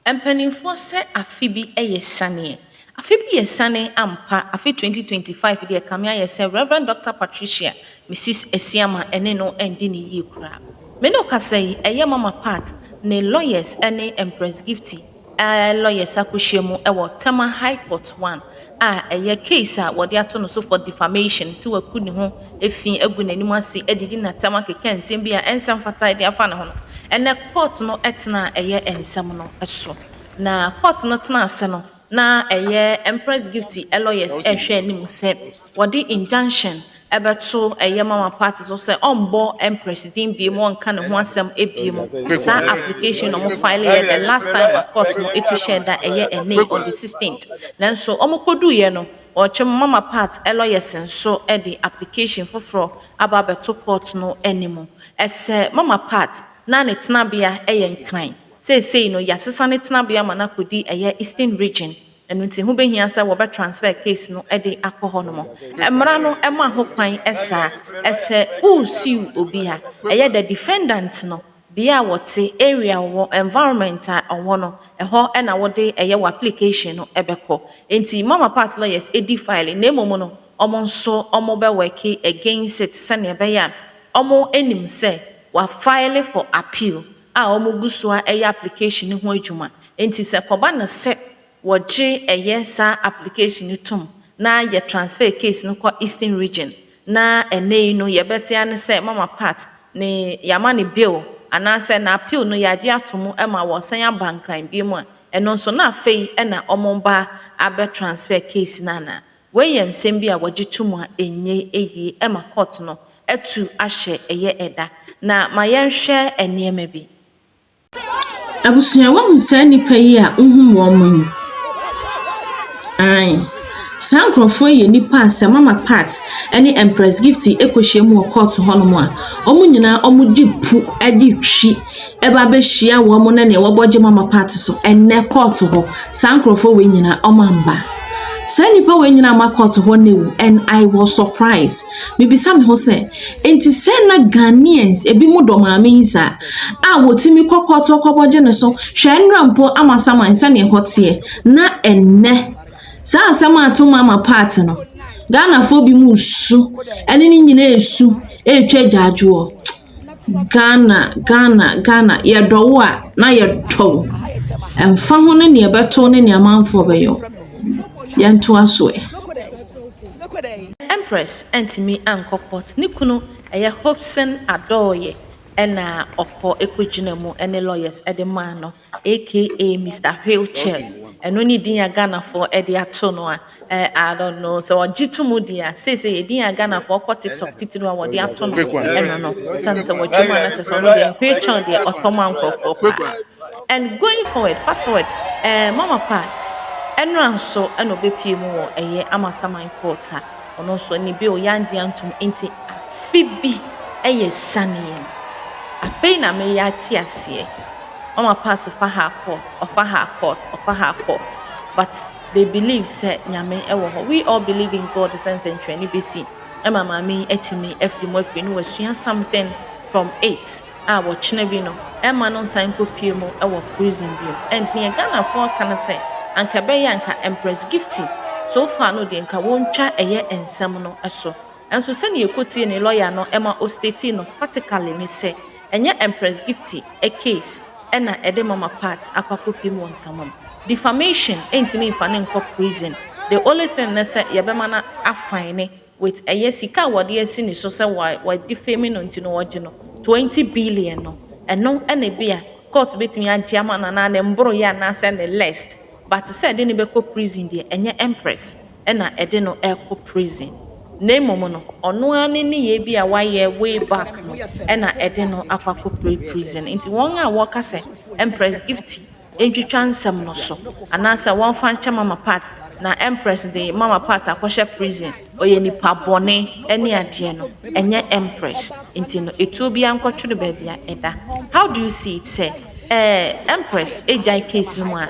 Mpanimfoɔ sɛ afe bi yɛ sianeɛ. Afe bi yɛ siane ampa, afe 2025 deɛ kame ayɛ sɛ Rev. Dɔkta Patricia Mrs. Asiamah ɛne no ɛndi no yie koraa. Me ne wo kasa yi ɛyɛ Mama Pat ne lawyers ɛne Empress Gifty aa lawyers akɔhyia mu ɛwɔ Tema High Court one. a ɛyɛ case a wɔde ato no so for defamation sɛ waku ne ho fi agu n'anim ase adidi n'atɛm akeka nsɛm bi a ɛnsɛ mfata de afa ne ho no, ɛnnɛ court no tenaa ɛyɛ nsɛm no so. Na court no tena ase no, na ɛyɛ Empress Gifty lawyers rehwɛ anim sɛ wɔde injunction bɛto ɛyɛ ma wɔn party so sɛ ɔmbɔ Empress din biom ɔnka ne ho asɛm biom saa application na ɔmo file yɛ the last time a court no etu hyɛɛ da ɛyɛ ɛnɛ yi on the sixteenth nanso ɔmo kɔduu yɛ no ɔɔtwe mo mama part lawyers nso de application foforɔ aba abɛto court no anim ɛsɛ mama part na ne tenabea yɛ nkran seisei no yasesa ne tenabea ma no akɔdi ɛyɛ eastern region Ɛno nti ho bɛhia sɛ wɔbɛ transfer case no de akɔ hɔ nom. Mmara no ma ho kwan saa. Sɛ wo sue obi a, ɛyɛ the defendant no, bea a wɔte, area a wɔwɔ, environment a ɔwɔ no, ɛhɔ na wode ɛyɛ w'application no bɛkɔ. Nti ma Mapa's lawyers di file na mmom no wɔn nso wɔn bɛ work against it sɛdeɛ ɛbɛyɛ a wɔn nim sɛ wa file for appeal. a wɔgu so ara yɛ application no ho adwuma. Enti sɛ ɛkɔba no sɛ wɔgye ɛyɛ saa application no tom na yɛ transfer case no kɔ Eastern Region na ɛnnɛ yi no yɛbɛte ara ne sɛ Mama Pat ne yɛama ne bail anaasɛ n'appeal no yɛagye ato mu ma wɔresan aba Nkran bio a, ɛno nso na afei na wɔreba abɛ transfer case no anaa? Wei yɛ nsɛm bi a wɔgye to mu a ɛnyɛ yie ɛma court no atu ahyɛ ɛyɛ ɛda. Na ma yɛnhwɛ nneɛma bi. Abusua wahu saa nnipa yi a wohum wɔn mo yi? Ae, saa nkurɔfoɔ yi yɛ nnipa a sɛ Mama Pat ne Empress Gifty kɔhyia mu wɔ court hɔ nom a, wɔn nyinaa wɔde pu de twi ɛba abɛhyia wɔn ne nea wɔbɔ gye mama party so ɛnɛ kɔɔto hɔ saa nkurɔfoɔ wei nyinaa ɔma mba saa nnipa wei nyinaa ma kɔɔto hɔ ne and i was surprised mebisa me ho sɛ nti sɛ na ghanaians ebi mu dɔ maame yi saa a wɔtumi kɔ kɔɔto kɔbɔ gye ne so hwɛ nnura mpo ama saman sɛnea ɛhɔ teɛ na ɛnɛ saa asɛm a ato mama party no ghanafoɔ bi mu su ɛne ne nyinaa su ɛretwa gyaadwoɔ Ghana, Ghana, Ghana, yɛdɔ wo a na yɛtɔ wo. Ɛmfa ho ne nea ɛbɛto ne nea amanfoɔ bɛyɛ wo. Yɛntoa so ɛ. Empress antumi ankɔ court ne kunu ɛyɛ Hopson Adooye na ɔkɔ ɛkɔgyina mu ɛne lawyers ɛde maa no. aka Mister wheelchair ɛno ne din a Ghanafoɔ de ato no a eh, I don't know sɛ wɔgye to mu deɛ a seesei yɛ din a Ghanafoɔ kɔ TikTok titiriw a wɔde ato no Fake one. ɛno no sane sɛ wɔtwa mu a na kyerɛ sɛ ɔno deɛ wheelchair deɛ ɔtɔ ma nkurɔfoɔ Fake paa one. and going forward fast forward eh, mama part ɛnora nso ɛna ɔbɛpie mu wɔ ɛyɛ amasaman court a ɔno nso ne bill yɛangye antom nti afe bi ɛyɛ sane yɛn afei na meyɛ ate aseɛ ɔma part fa ha kɔt ɔfa ha kɔt ɔfa ha kɔt but they believe sɛ nyame ɛwɔ hɔ we all believe in God sɛ nsɛnkyerɛnne bɛsi ɛma maame yi atumi afiri mu afiri no wasua something from it a wɔkyena bi no ɛma no nsan kɔ pie mu ɛwɔ prison bi mu and neɛ Ghana foɔ ka no sɛ anka ɛbɛyɛ anka Empress Gifty so far no deɛ nka wɔn twa ɛyɛ nsɛm no ɛso ɛnso sɛdeɛ yɛkɔ tie ne lawyer no ɛma o state no practically ne sɛ. Ɛnyɛ Empress Gifty case na ɛde Mama Pat akɔ akɔpim wɔ nsamam. Defamation ntumi mfa no nkɔ prison, the only thing ne sɛ yɛbɛma no a fine with ɛyɛ sika a wɔde asi ne so sɛ wa defame no nti no wɔgye no twenty billion no, ɛno na ebia court bɛtumi agye ama no anaa ne mboroyɛ anaasɛ ne list but sɛ yɛde no bɛkɔ prison deɛ ɛnyɛ Empress. na ɛde no rekɔ prison, na mmom no, ɔno ara ne nneyɛe bi a wayɛ way back no na ɛde no akɔ akɔpue prison. Nti wɔn a wɔka sɛ Empress Gifty ntwitwa nsɛm no so, anaasɛ wɔmfa nkyɛ Mama Pat na Empress de Mama Pat akɔhyɛ prison, ɔyɛ nipa bɔne ne adeɛ no, ɛnyɛ Empress nti no, etuo biara nkɔtwere baabi a ɛda. How do you see it sɛ Empress gyae case no mu a?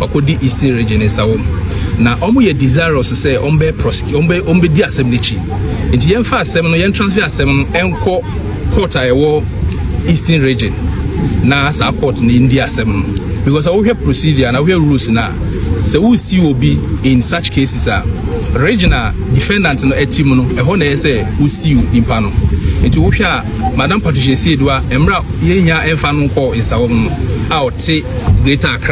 ɔkɔ di eastern region nsa wɔm na wɔn yɛ desirous sɛ wɔn bɛ prosecute wɔn bɛ wɔn bɛ di asɛm n'akyi nti yɛn fa asɛm no yɛn transfer asɛm no ɛnkɔ court a ɛwɔ eastern region na saa court no ndi asɛm no because wohwɛ procedure na wohwɛ rules na sɛ wosi obi in such cases a region a defendant no ɛti mu no ɛhɔ na ɛyɛ sɛ wosi nipa no nti wohwɛ a madam patricia siedoa mmerɛ a yɛnya ɛmfa no nkɔ nsawɔm no a ɔte greater accra